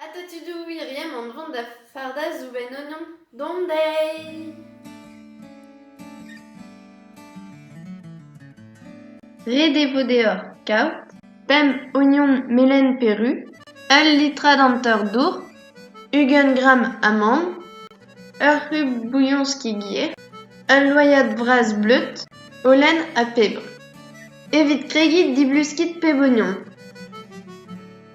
Atatudou wirion an dron da fardañ zoubenn oignon dont dezhi. Ret e vo deoc'h kaout pemp ognon melen peru, ul litra dantor dour, ugent gramm amann, ur c'hub bouillon skigir, ul loyad vras bleud, holen ha pebr. Evit kregiñ, diluskit pep ognon.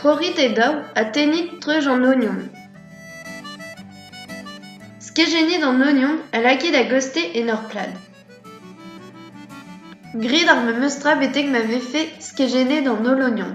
Trorit e daou ha tennit treuz an ognon. Skejennit an ognon ha lakit a-goste en ur plad. Graet ar memes tra betek ma vefe skejennet an holl ognon.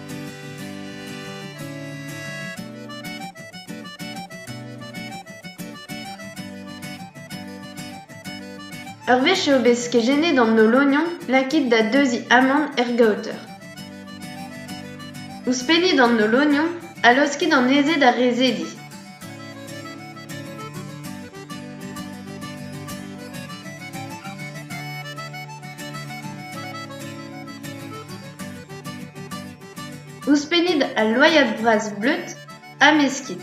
Ur wech eo bet kejennet an Holognon lakaet da deuziñ amann er gaoter. Ouzhpennit an Holognon ha laoskit anezhe da rezediñ. Ouzhpennit al loaiad bras bleud ha meskit.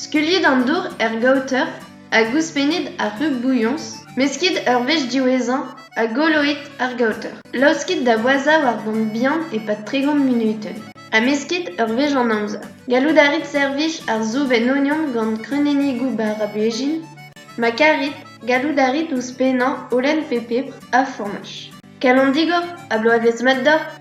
Skeuliit an dour er gaoter hag ouzhpennit ar rug bouilhoñs, meskit ur wech diwezhañ ha goloit ar gaoter. Laoskit da boazhañ war gont bihan e-pad tregont munutenn ha meskit ur wech an amzer. Gallout a rit servij ar soub en ognon gant kreunennigoù bara-blejin, ma karit, gallout a rit ouzhpennañ holen pe pebr ha fourmaj. Kalon digor ha bloavezh mat deoc'h!